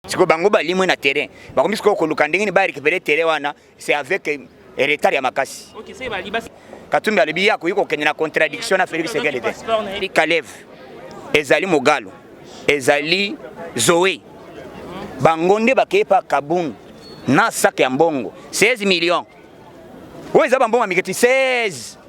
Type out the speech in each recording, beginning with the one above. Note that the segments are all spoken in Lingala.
sikoyo bango balimwe na terrain bakomi sikoyo koluka ndenge nini barekipere terrain wana c'est avec eh, retard ya makasi katumbi alobi ye akoki kokende na contradiction na felix sekele te kalev ezali mogalo ezali zoe bango nde bakei pa kabund na sak ya mbongo 16 million oyo eza bambongo ya mike ti 16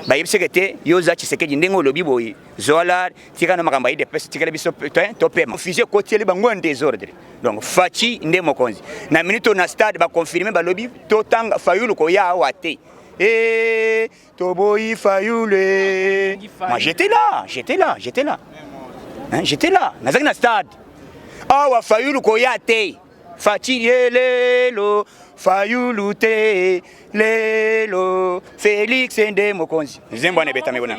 bayebiseke te yo oza tshisekedi ndenge olobi boye zola tika na makambo ya idps tikela biso topema fusi ekotieli bango ya desordre donc faci nde mokonzi na minute na stade baconfirme balobi totanga fayulu koya awa te e Toboyi Fayulu eh. Moi j'étais là, j'étais là, j'étais là. Hein, j'étais là, nazaki na stade. Awa Fayulu koya te. Fatshi lelo, Fayulu te lelo. Felix nde mokonzi. Zembo na betame kuna.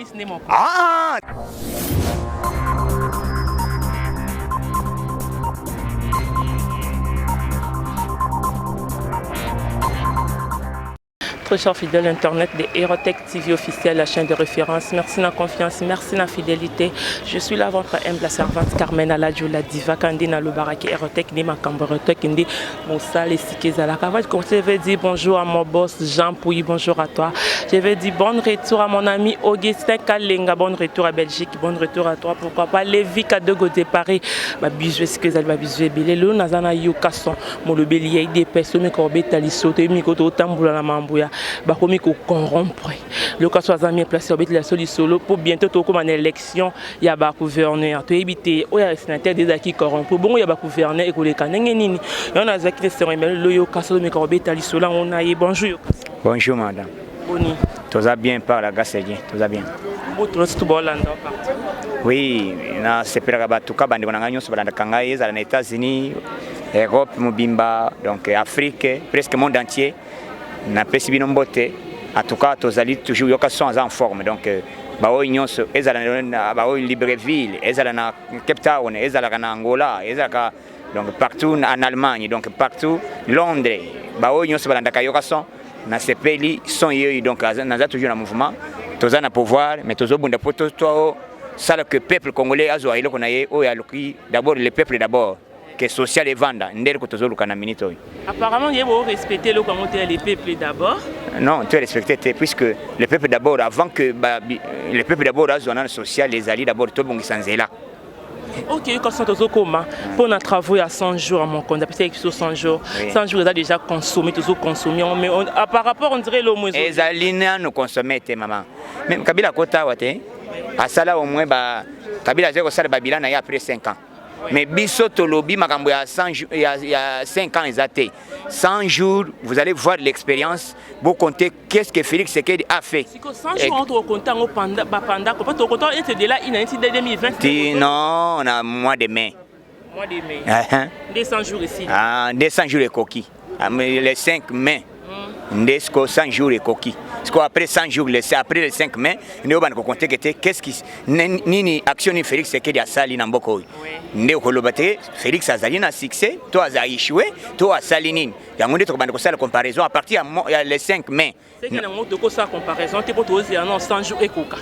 Ah! Très cher fidèle internet de Erotech TV officiel, la chaîne de référence. Merci na confiance, merci na fidélité. Je suis là votre humble servante Carmen Aladjo la diva kandi na lobaraki Erotech ni makambo Erotech ndi mosala esika ezalaka. Avant de commencer, je vais dire bonjour à mon boss Jean Pouy, bonjour à toi. Je vais dire bon retour à mon ami Augustin Kalenga, bon retour à Belgique, bon retour à toi. Pourquoi pas Lévi Kadogo de Paris. Ba bisous, est-ce que vous allez ba bisous ebele? Lelo nazana Yukason. molobeli ya idps omi kobeta liso toyebi miko totambola na mambo ya bakomi kocorrompre loka so aza mie place obetela so lisolo mpo bientôt tokóma na élection ya bagouverneur toyebi te oyo ya sénateur de ezalaki corrompre bongo ya bagouverneur ekoleka ndenge nini yango nazalaki na esengo emele loyoka solo mika kobeta lisolo yango na ye bonjour bonjour madame Boni. Toza bien par la grâce de Dieu, toza bien. Butu nsi tubolanda parti. Oui, na sepelaka bato ka bandeko na ngai nyonso balandaka ngai ezala na États-Unis, Europe mobimba, donc Afrique, presque monde entier. Napesi bino mbote. En tout cas, tozali toujours yoka son aza en forme. Donc euh, baoyo nyonso ezala na baoyo Libreville, ezala na Cape Town, ezalaka na Angola, ezalaka donc partout en allemagne donc partout londres baoyo nyonso balandaka yoka son nasepeli son yeyo donc naza toujours na mouvement toza na pouvoir mais tozobunda mpo tosala que peuple congolais azwa eloko na ye oyo aluki d'abord le peuple d'abord que social evanda nde eloko tozoluka na minute oyo apparemment ye borespecte eloko yango te ya le peuple d'abord non tu respecte te puisque le peuple d'abord avant que ba, le peuple d'abord azwa nano social ezali d'abord tobongisa nzela ok yoka sona tozokoma mpo na travaux ya 100 jours ya mokonzi apesaki biso 100 jours 100 jours eza déjà consommé tozoconsomme yango mais ah, par rapport on dirait elomo ezali nano consommé te mama meme kabila akota awa te asala au moins ba kabila azali kosala babila na ye après 5 ans mais biso tolobi makambo ya 5 ans eza te 100 jours vous allez voir l'expérience bocompte Qu'est-ce que Félix Sekedi a fait Siko 100 jours entre au compte au panda ba panda ko pato compte est de là il a été de 2020. Ti non, na mois de mai. Mois de mai. Uh -huh. 200 jours ici. Ah, 200 jours ekoki. Ah, le 5 mai. Mm. Nde siko 100 jours ekoki. Siko après 100 jours, le, après le 5 mai, nde obana ko compter que te qu'est-ce qui nini action ni Félix Sekedi asali na mboko oyo. Nde okoloba te Félix azali na succès, to aza échoué, to asali nini. yango nde tokobanda kosala comparaison à partir ya le 5 mai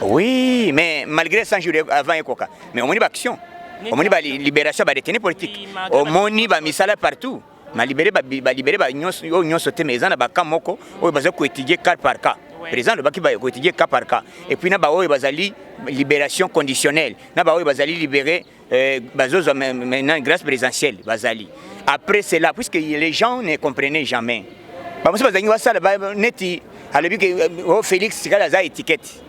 oui mais malgré 100 jours avant ekoka mais omoni baaction omoni balibération ya badetenu politique omoni bamisala partout malibere balibere oyo nyonso te mais eza na baka moko oyo baza koétudie cas par cas président alobaki koétudie cas par cas epuis na baoyo bazali libération conditionnelle na baoyo bazali libéré Euh, bazozwa maintenant grâce présidentielle bazali après cela puisque les gens ne comprenaient jamais bamosusu bazangi basala neti alobi ke euh, o oh, félix sikala aza étiquette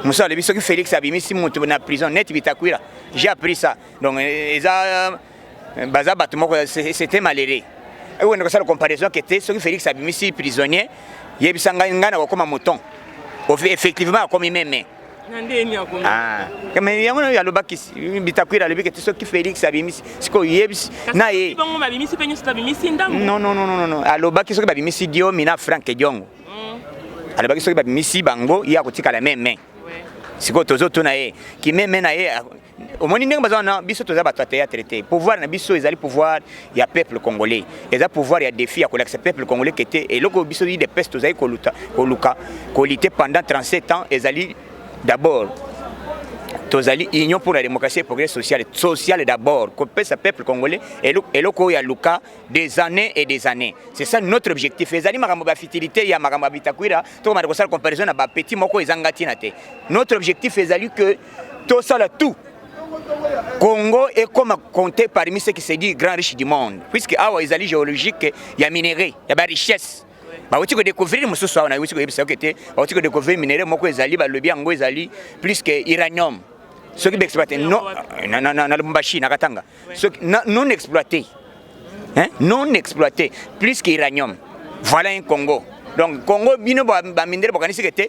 mosusu alobi soki félix abimisi moto na prison neti bitakwila j'ai appris ça donc euh, eza baza bato moko c'était malheureux ekokende kosala comparaison ke te soki félix abimisi prisonnier yebisa ngai ngai nakokoma moton effectivement akomi meme Ah. mais yango nayo alobaki bitakwira alobiki ti soki félix abimisi sikoyo yebisi na ye alobaki soki babimisi diomi na frank diongo mm. alobaki soki babimisi bango ye akotikala meme sikoyo tozotuna ye kimeme na ye omoni ndenge baza wana biso toza bato ya théâtre te pouvoir na biso ezali pouvoir ya peuple congolais eza pouvoir ya défi ya kolakisa peuple congolais ke te eloko biso de peste tozali koluta koluka kolite pendant 37 ans ezali d'abord tozali union pour la démocratie et progrès social social d'abord kopesa peuple congolais eloko oyo aluka des années et des années c'est ça notre objectif ezali makambo ba futilité ya makambo ya bitakwira tokomata kosala comparaison na ba petit moko ezanga ntina te notre objectif ezali que tosala tout Congo est comme compté parmi ceux qui se disent grand riche du monde, puisque awa ezali géologique ya minerais, ya ba richesse. bauti kodécouvrir mosusu awa nayuti koyebisa yoke te bauti kodécouvrir minerais moko ezali balobi yango ezali plus que uranium soki baexploite na lubumbashi na katanga soki non exploité non exploité plus que uranium voilà un congo donc congo bino bamindele bokanisi ke te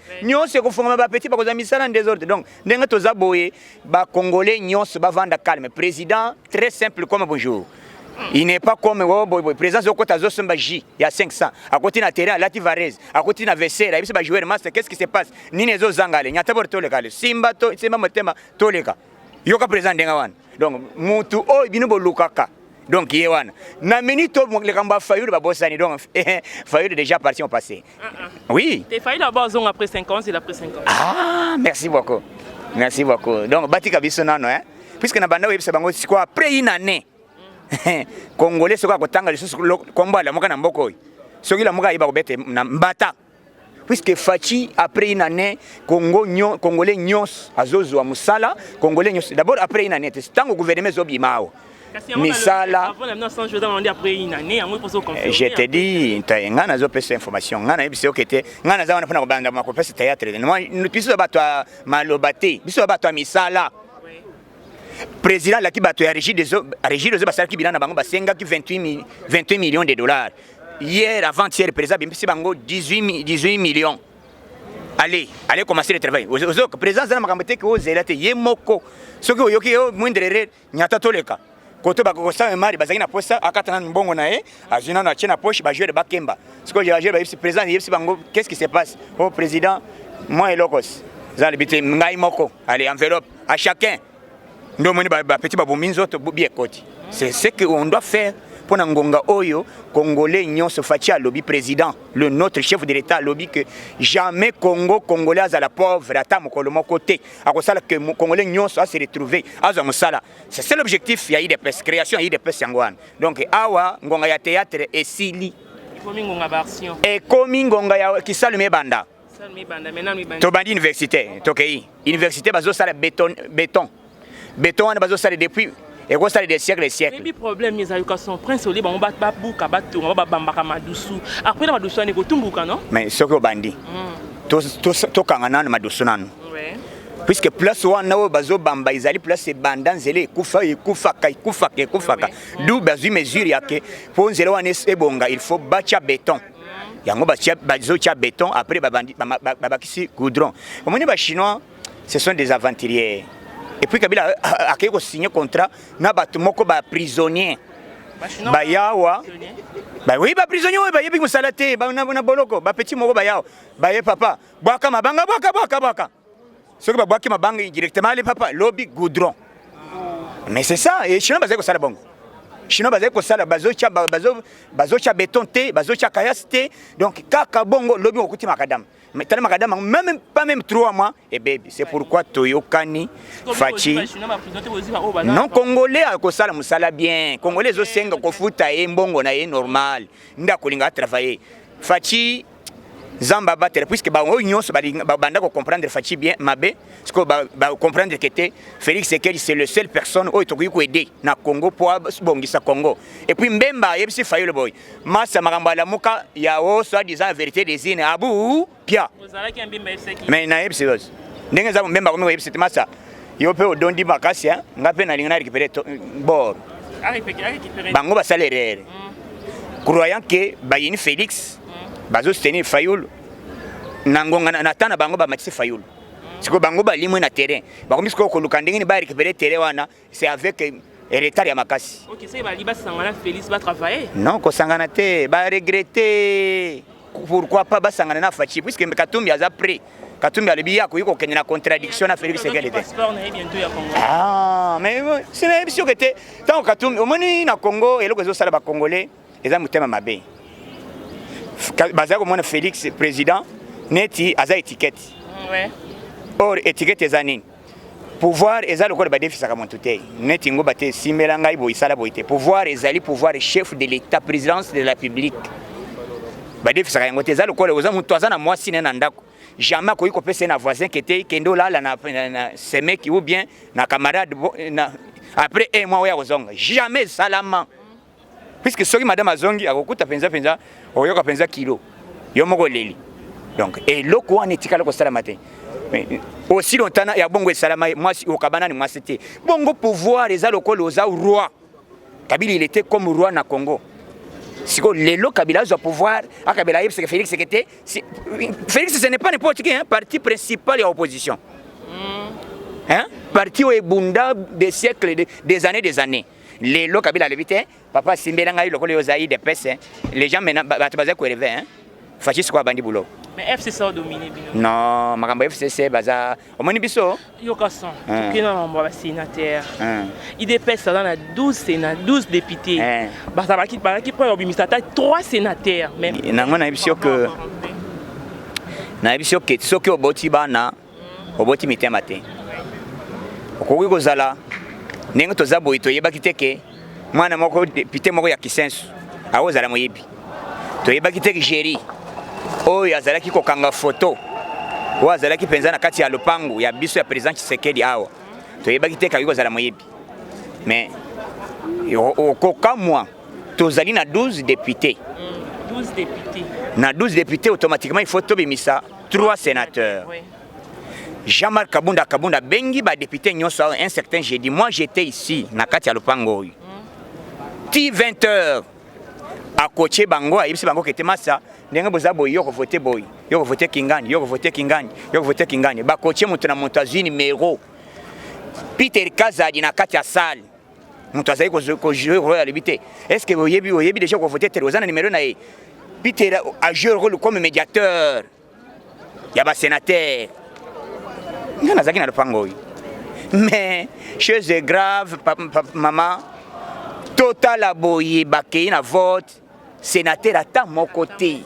nyonso ekofongama ba petit bakozwa misala en desordre donc ndenge toza boye ba congolais nyonso bavanda calme président très simple comme bonjour il n'est pas comme oh, boy, boy. présence okota azosomba ji ya 500 akoti na terrain alati varese akoti na vesere ayebisi bajoueur master qu'est ce qui se passe nini ezozanga le nyata bor toleka le simba, to, simba motema toleka yoka président ndenge wana donc mutu oyo bino bolukaka donc ye wana na minute oyo likambo ya fayulu babosani donc eh, eh, fayulu déjà parti au passé ah, ah. oui te fayulu abo azonga après 5 ans il a pris 5 ans ah merci beaucoup merci beaucoup donc batika biso nano hein puisque na banda oyebisa bango sikoyo après une année congolais soki akotanga lisusu kombo alamuka na mboka oyo soki lamuka ayeba kobete na mbata puisque Fatshi après une année Congo nyon, congolais nyonso azozwa musala congolais nyonso d'abord après une année te ntango gouvernement ezobima awa misala eh, je te dis ngai nazopesa information ngai nayebisi oke te ngai naza wana mpona kobanda makopesa théâtre biso ya bato ya maloba te biso ya bato ya misala président alaki bato ya régie des eaux basalaki bilan na bango basengaki 28 millions de dollars hier avant hier président bimpisi bango 18 18 millions allez allez commencer le travail ozo président zana makambo te ko zela te ye moko soki oyoki yo moindre erreur nyata toleka koto bakokosala mari bazalaki na posa akata nanu mbongo na ye azwi nanu atie na poche bajoueur bakemba sikoyo bajoueur bayebisi président yebisi bango qu'est ce qui se passe o oh, président moi elokos zana libi te ngai moko allez enveloppe à chacun nde omoni bapeti babomi nzoto bobi ekoti c'est ce que on doit faire mpo na ngonga oyo congolais nyonso faci alobi président le notre chef de l'état alobi que jamais congo congolais azala pauvre ata mokolo moko te akosala que congolais nyonso ase retrouve azwa mosala c'est seul objectif ya idps création ya idps yango wana donc awa ngonga ya théâtre esili ekomi ngonga ya kisalu mebanda tobandi université tokei université bazosala beton beton beton wana bazosala depuis ekosala des siècles siècles ebi problème ezaluka son prince olie bango babuka batonga ba babambaka madusu après na madusu wana ekotumbuka non mais soki obandi hmm. tokanga nanu madusu nanu puisque place wana oyo bazobamba ezali place ebanda nzela ekufa ekufaka ekufaka ekufaka du bazwi mesure yake mpo nzela wana ebonga il faut batya beton yango bazotya beton après babakisi goudron omoni bachinois ce sont des aventuriers epuis kabila euh, euh, akei kosigne contrat na bato moko baprisonnier bayawa oui baprisonnier oyo bayebi mosala te na boloko bapetit moko bayawa baye papa bwaka mabanga bwaka bwaka bwaka soki babwaki mabanga indirectement ale papa lobi goudron mais c'est ça et chinois bazali kosala bango chinois bazali kosala bazotya bazo, bazo beton te bazotya kayas te donc kaka bongo lobi okokuti makadame tala makadame yango même pas même trois mois ebebi c'est pourquoi toyokani faci non congolais akosala mosala bien congolais ezosenga kofuta ye mbongo na ye normal nde akolinga atravaille faci Zamba abatela puisque bango nyonso babanda ko comprendre Fatshi bien mabe sikoyo ba, ba comprendre que te Felix Sekedi c'est le seul personne oyo tokoki ko aider na Congo po abongisa Congo et puis Mbemba ayebisi Fayulu boy masa makambo alamuka ya o soit disant vérité des ines abu pia ozalaki Mbemba yebisaki mais na yebisi los ndenge za Mbemba komi ko yebisi te masa yo pe odondi makasi hein nga pe nalinga na récupérer bor bango basala erreur mm. croyant que bayini Felix bazo soutenir fayulu na ngonga na temps na bango bamatisi fayulu sikoyo bango balimwe na terrain bakomi sikoyo koluka ndenge nini ba récupérer terrain wana c'est avec retard ya makasi okay, so bali basangana Félix ba travailler non kosangana te ba regretter pourquoi pas basangana na Fatshi puisque Katumbi aza prêt Katumbi alobi ya koyi kokende na contradiction na Félix Tshisekedi te ah mais sina yebi soki te ntango Katumbi omoni na Congo eloko ezosala ba Congolais eza motema mabe bazali komona Felix president neti aza etiquette ouais. or etiquette eza nini pouvoir eza lokola badefisaka moto te neti ngoba te esimbela ngai boye esala boye te pouvoir ezali pouvoir chef de l'état présidence de la publique badefisaka yango te eza lokola oza moto aza na mwasi ne na ndako jamais akoki kopesa ye na voisin ke te kende olala na, na, na semeki ou bien na camarade na, après un mois oyo akozonga jamais esalama puisque soki madame azongi akokuta penza penza oyoka penza kilo yo moko leli donc eloko wana etikala kosalama te aussi longtemps ya bongo esalama mwasi okabana ni mwasi te bongo pouvoir eza lokola oza roi kabili il était comme roi na congo sikoyo lelo kabila azwa pouvoir akabela ayebisaka félix seke te félix ce n'est pas n'importe qui hein, parti principal ya opposition mm. hein? parti oyo ebunda des siècles des années des années lelo kabila alobi te papa asimbela ngai lokola yo ozali de pese les gens maintenant bato bazali koeleve hein fasciste ko abandi boulot mais FCC a dominé bino non makambo FCC baza omoni biso yoka son hein. tokenda na mambo ya basénateur hein. idps aza na 12 sénat 12 députés hein. bazalaki bazalaki mpo obimisa ata 3 sénateur mais nango nayebi yo ke nayebi yo ke soki oboti bana Oboti mitema te. Okoki kozala ndenge toza boye toyebaki te ke mwana moko depute moko ya kisensu akozala moyibi toyebaki te jeri oyo azalaki kokanga foto oyo azalaki mpenza na kati ya lopangu ya biso ya president tshisekedi awa toyebaki te kakoki kozala moyibi mais okokamwa tozali na 12 depute na 12 depute automatiquement il faut tobimisa Trois sénateurs. Oui. Jean-Marc Kabunda Kabunda bengi ba députés nyonso un certain jeudi. Moi j'étais ici na kati ya lopango oyo. Mm. Ti 20 heures akotie bango ayebisi bango kete masa ndenge boza boye yoko vote boye yoko vote kingani yoko vote kingani yoko vote kingani bakotie moto na moto azwi numero peter kazadi na kati ya sale moto azali kojouer role ya lobi te est ce que oyebi oyebi déjà kovote tere oza na numero na ye peter ajouer role comme médiateur ya basénateur nga nazalaki na lopango oyo mais chose grave mama totala boye bakei na vote senateur ata moko te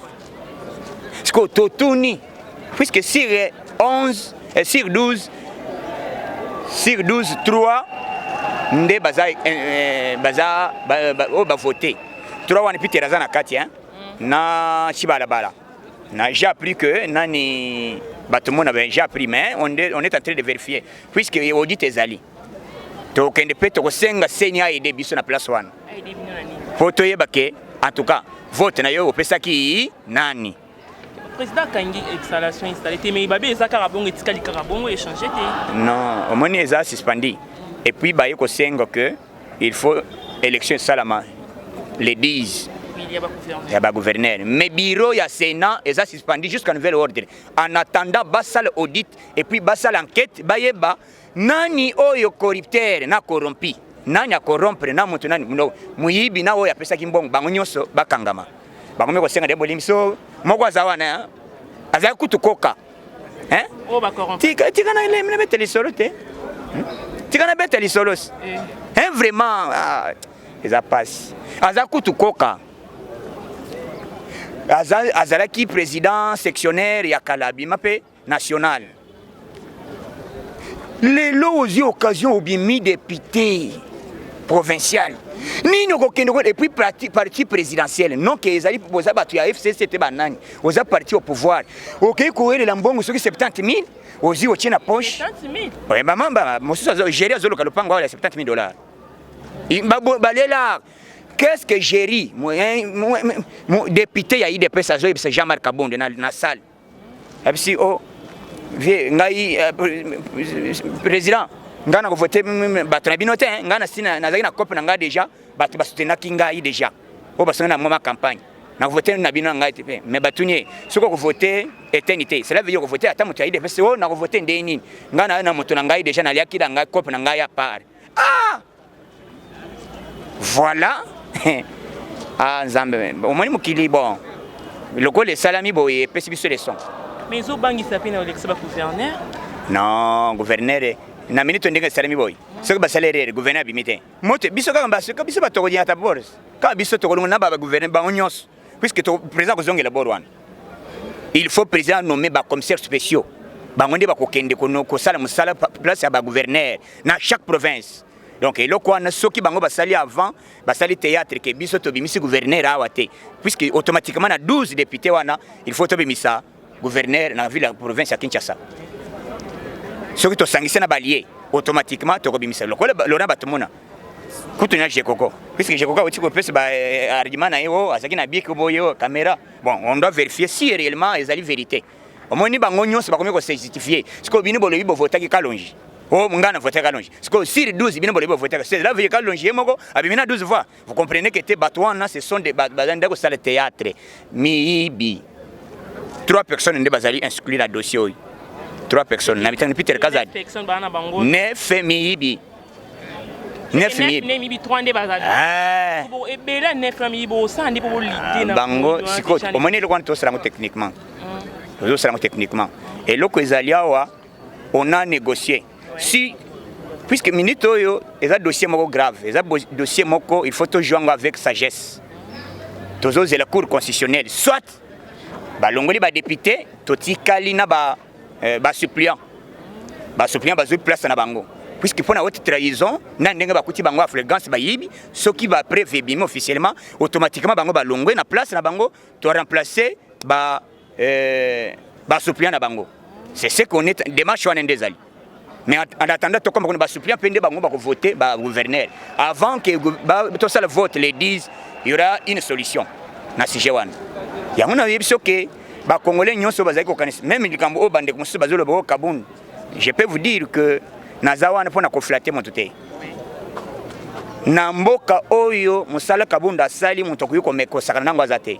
sikoyo totuni puisque sur 11 eh, sur 12 sur 12 3 nde baza eh, eh, baza oyo bavote 3 wana peter aza na kati hein? Mm. na chibalabala na j'ai appris que nani bato mona j'ai appris mais on est, on est en train de vérifier puisque audit ezali tokende mpe tokosenga seni aide biso na place wana mpo toyeba ke en tout cas vote na yo opesaki nani président akangi exhalation installé te mais babe eza kaka bongo etikali kaka bongo échange te non omoni eza suspendi et puis baye kosenga que il faut élection esalama le 10 ya bagouverneur mais bureau ya sénat eza suspendi jusqu'à nouvel ordre en attendant basala audit et puis basala enquête bayeba Nani oyo corrupteur na corrompi? Nani a corrompre na mutu nani? Mundo muyibi na oyo apesaki mbongo bango nyoso bakangama. Bango meko senga de bolimso moko azawana hein? Azali kutu koka. Hein? Oh ba corrompi. Tika tika na ile mine beteli solo te. Hmm? Tika na beteli solos. Eh. Hein vraiment ah, eza pasi. Aza kutu koka. Azalaki président sectionnaire ya Kalabi mape national lelo ozwi occasion obimi depute provincial nini okokende ko epuis parti présidentiel non ke ezali boza bato ya fcc te banani oza parti au pouvoir okei kowelela mbongo soki 70 000 ozwi otie na poche bamamba mosusu géri azoluka lopango awa ya 70 000 dollars balela qu'est-ce que géri député ya idps azoyebisa jean marc abonde na salle abisi o vie ngai eh, président ngai na kovote bato na bino te eh. ngai nasi nazalaki na cope na ngai déjà bato basutenaki ngai déjà oyo basongi na mwa campagne na kovote na bino na ngai te mpe mais batuni ye soki okovote eteni te cela veut dire okovote ata moto ya idps o oh, na kovote ndenge nini ngai na na moto na ngai déjà naliaki na ngai cope na ngai ya part ah Voilà. ah Nzambe, omoni mokili bon. Lokola esalami boye epesi biso leson. Mais ezobangisa mpe na olekisa ba gouverneur. Non, gouverneur eh. na minute ndenge esalemi boye soki basali erreur gouverneur abimi te moto biso kaka biso bato konyata bors kaka biso tokolongo na bagouverne bango nyonso puisque président kozongela bor wana il faut président nomme bacommissaire spéciaux bango nde bakokende kosala mosala place ya bagouverneur na chaque province donc eloko wana soki bango basali avant basali théâtre ke biso tobimisi gouverneur awa te puisque automatiquement na 12 député wana il faut tobimisa gouverneur na ville ya province ya Kinshasa soki tosangisi na balie automatiquement tokobimisa lokola lona bato mona kutu na jekoko puisque jekoko auti kopesa baargument na ye o azalaki na biki boye o caméra bon on doit vérifier si réellement ezali vérité omoni bango nyonso bakomi kosejustifier sikoyo bino bolobi bovotaki kalonji o ngai na votaki kalonji sikoyo sur 12 bino bolobi bovotaki cela veut kalonji ye moko abimi na 12 voix Vous comprenez que te bato wana ce sont des baza nde kosala théâtre miyibi. Trois personnes nde bazali inscrit na dossier oyo. Trois personnes na mitano Peter Kazadi. Personne bana bango. Ne fait miyibi. Nef miyibi. Ne miyibi trois nde bazali. Ah. Bo ebela nef na miyibi osa ndi bo lite na. Bango siko omoni eloko wana tosala ngo techniquement. Tozosala ngo techniquement. Eloko ezali awa on a négocié. si puisque minute oyo eza dossier moko grave eza dossier moko il faut tojua yango avec sagesse tozozela cour constitutionnelle soit balongoli badepute totikali na ba, euh, ba suppliant ba suppliant bazwi place na bango puisque mpo na haute trahison na ndenge bakuti bango aflgance bayibi soki bapreve ebimi officiellement automatiquement bango balongwe na place na bango to remplacer ba eh, ba suppliant na bango c'est ce qu'on est démarche wana nde ezali mais en attendant tokoma kuna ba suppliant mpe nde bango bakovote ba gouverneur avant que tosala vote les 10 il y aura une solution na sujet wana yango nayebi biso ke bakongole nyonso bazali kokanisa meme likambo oyo bandeko mosusu bazoloba o oh, kabund je peux vous dire que naza wana mpo na koflate moto te na mboka oyo mosala kabunda asali moto akoki komekosakana nango aza te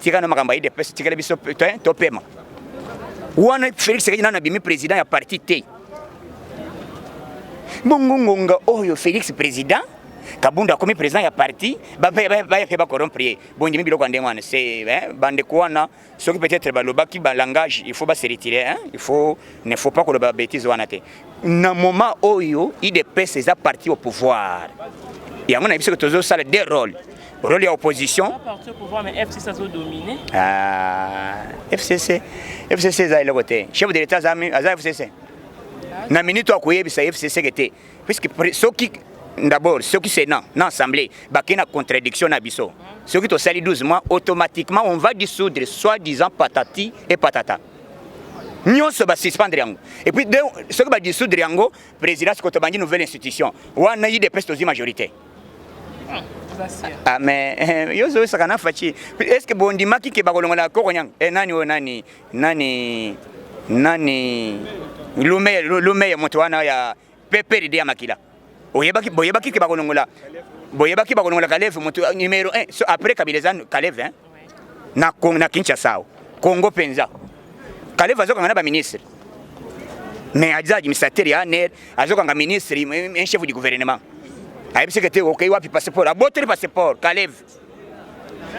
Tika na makambo ya UDPS, tikela biso topema. Wana Felix Tshisekedi nanu abimi president ya parti te. Bongo ngonga oyo Felix president Kabunda akomi president ya parti bayape bacorrompre ye bondimi biloko ya ndenge wana se bandeko wana soki peut-être balobaki balangage il faut baseretire il faut ne faut pas koloba betise wana te. na moment oyo idps eza parti au pouvoir yango nayebi soki tozosala de role role ya opposition fcc fcc eza eloko te chef de l'état aza fcc na minute akoyebisa fcc ke te puisque soki d'abord soki sénat na assemblée bakei na contradiction na biso soki tosali 12 mois automatiquement on va dissoudre soit disant patati et patata nyonso ba suspendre yango et puis de soki ba dissoudre yango présidence ko tobangi nouvelle institution wana idps tozwi majorité Ah, mais eh, yo ozoyosaka na faci est ce que bondimaki ke bakolongola kokonyanga e eh, nani oyo nani nani nani lumeye lumeye moto wana ya PPRD ya makila. Oyebaki boyebaki ke bakolongola boyebaki bakolongola Kalev moto euh, numero 1 so après Kabila eza Kalev hein na Congo na Kinshasa Congo penza Kalev azokanga na ba ministre mais aza administrateur ya ANR azokanga ministre un chef du gouvernement ayebisi ke te okei wapi passeport abotoli passeport Kalev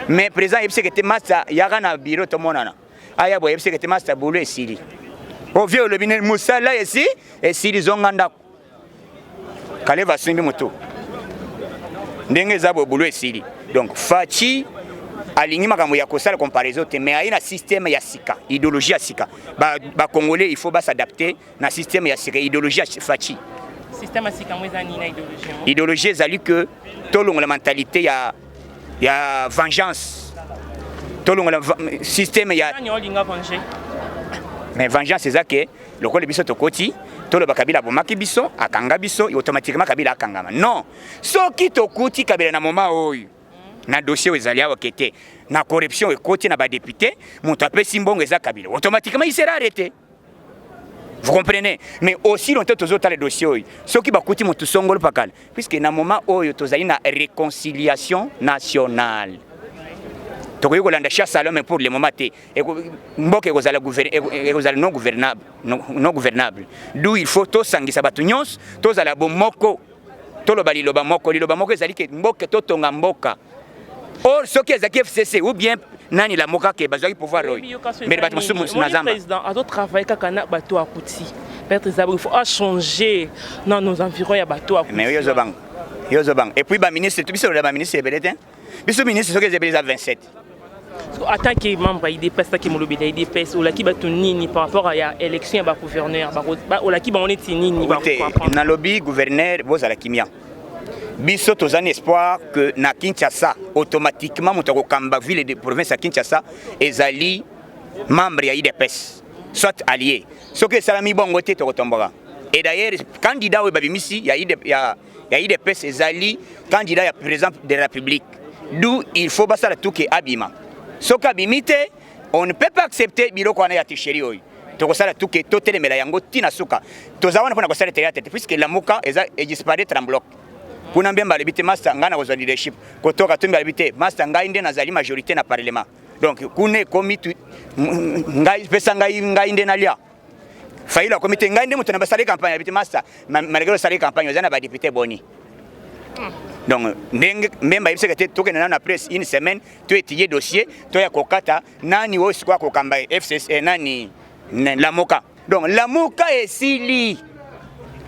mais président ayebisi ke te masa yaka na bureau tomonana aya boye yebiseke te masta bulu esili ovie olobi nini mosala esi esili zonga ndako kaleva asimbi motu ndenge eza boye bulu esili donc faci alingi makambo ya kosala comparaison te mais aye na système ya sika idéologie ya sika bakongolais ba il faut basadapte na système ya sika idéologie ya Fatshi système ya sika yango eza nini na idéologie yango idéologie ezali que tolongola mentalité ya ya vengeance tolongola système ya nani olinga venger mais vengeance eza que lokola biso tokoti toloba kabila abomaki biso akanga biso automatiquement kabila akangama non soki tokuti kabila na moma oyo na dossier oyo ezali awa kete na corruption ekoti na badepute moto apesi mbongo eza kabila automatiquement il sera arrete Vous comprenez Mais aussi longtemps tozo tala dossier oyo. Soki bakuti mutu songolo pakala. Puisque na moment oyo tozali na réconciliation nationale. Tokoki kolanda chasse à l'homme pour le moment te. Mboka ekozala ekozala non gouvernable, non gouvernable. D'où il faut tosangisa bato nyonso, tozala bomoko. toloba liloba moko liloba moko ezali ke mboka totonga mboka or soki ezalaki fcc ou bien nani lamuka ke bazwaki pouvoir oyo mbele bato mosusu na zamba azotravaille kaka na bato ya kuti maître zabri il faut achanger na nos environs ya bato ya kuti mais oyo ozobanga yo ozobanga epuis baministre biso lola baministre ebele te biso ministre soki ezebele eza 27 en tant que membre ya idps taki molobeli ya idps olaki bato nini par rapport ya élection ya bagouverneur olaki bango neti nini nalobi gouverneur bozala kimia biso toza na espoir que na kinshasa automatiquement moto akokamba ville de province ya kinshasa ezali membre ya idps soit allié soki esalami bongo te tokotomboka et d'ailleurs candidat oyo babimisi ya, ya ya udps ezali candidat ya président de la république d'où il faut basala tout ke abima soki abimi te on ne peut pas accepter biloko wana ya tricherie oyo tokosala tout ke totelemela yango ntina suka toza wana mpona kosala teyate te puisque lamuka eza edisparaître en bloc kuna mbemba alobi te masta ngai nakozwa leadership kotoka tumbi alobi te masta ngai nde nazali majorité na parlement donc kuna ekomi ngai pesa ngai ngai nde nalia Fayulu akomi te ngai nde moto na basali campagne abiti masta malgré osali campagne oza na ba député boni donc ndenge mbemba ayebisaka te tokende nano na presse une semaine to étudier dossier to ya kokata nani oyo sikoyo akokamba fcc eh, nani lamoka donc lamoka esili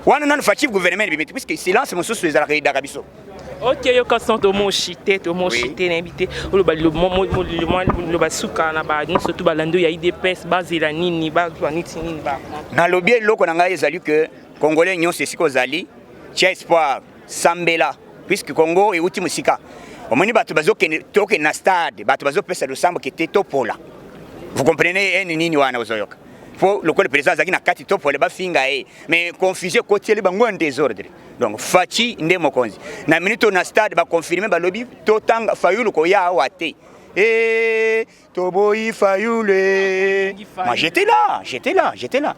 wana nanu faci gouvernement ebimi te puisque silence mosusu ezalaka edaka biso oke yoka son tomoshi te tomoshi te nayebi te oloba liloba suka na ba nyonso to balandi ya idps bazela nini bazwa niti nini ba nalobi eloko na ngai ezali ke congolais nyonso esika ozali tia espoir sambela puisque congo euti mosika omoni bato bazokende tokende na stade bato bazopesa losambo kete topola vous comprenez ene nini wana ozoyoka po lokola president azalaki na kati topola bafinga ye mais confusion ekotieli bango ya desordre donc faci nde mokonzi na minute oyo na stade baconfirme balobi totanga fayulu koya awa te e toboyi fayulu e ma j'étais là j'étais là j'étais là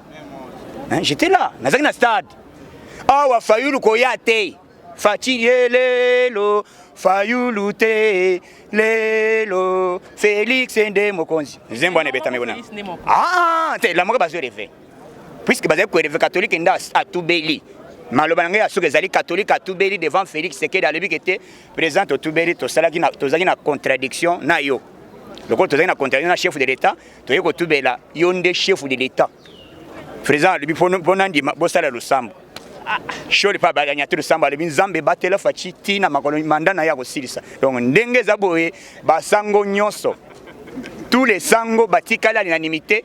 hein, j'étais là nazalaki na stade awa fayulu koya te faci ye lelo fayulu te lelo felix nde mokonzi nzembo wana ebetami kuna ah, ah, ah, te lamoke bazwi reve puisque bazali koeleve katolike nde atubeli maloba na ngai ya suka ezali katolike atubeli devant félix sekedi alobi ke te président totubeli tozalaki na contradiction na yo lokola tozalaki na contradiction na chef de l'état toyei kotubela yo nde chef de l'état président alobi mpo nandima bosala losambo ah, shole mpe abalanya te losambo alobi nzambe ebatela faci ti na makolo manda na ye akosilisa donc ndenge eza boye basango nyonso tous les sango batikali alinanimité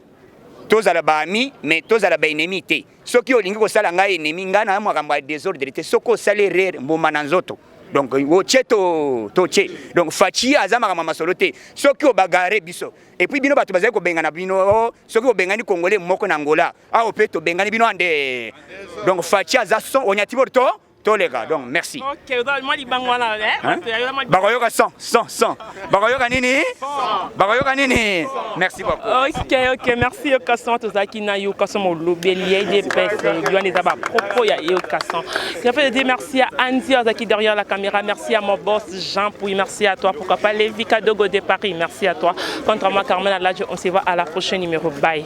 tozala ba amis mais tozala ba ennemis te soki olingi kosala ngai ennemi ngai na makambo ya desordre te soki osali erreur mbuma na nzoto donc otie to totie donc faci aza makambo masolo te soki obagare biso et puis bino bato bazali kobengana bino oh, soki obengani congolais moko na ngola awa mpe tobengani bino ande donc faci aza son onyatibor to toleka donc merci bakoyoka 100 100 100 bakoyoka nini bakoyoka nini merci beaucoup ok ok merci yokason tozalaki na yokason molobeli ya edps wana eza bapropos ya yokason en fait je merci à anzi azalaki derrière la caméra merci à mon boss jean puis merci à toi pourquoi pas levi kadogo de paris merci à toi contre moi carmen aladjo on se voit à la prochaine numéro bye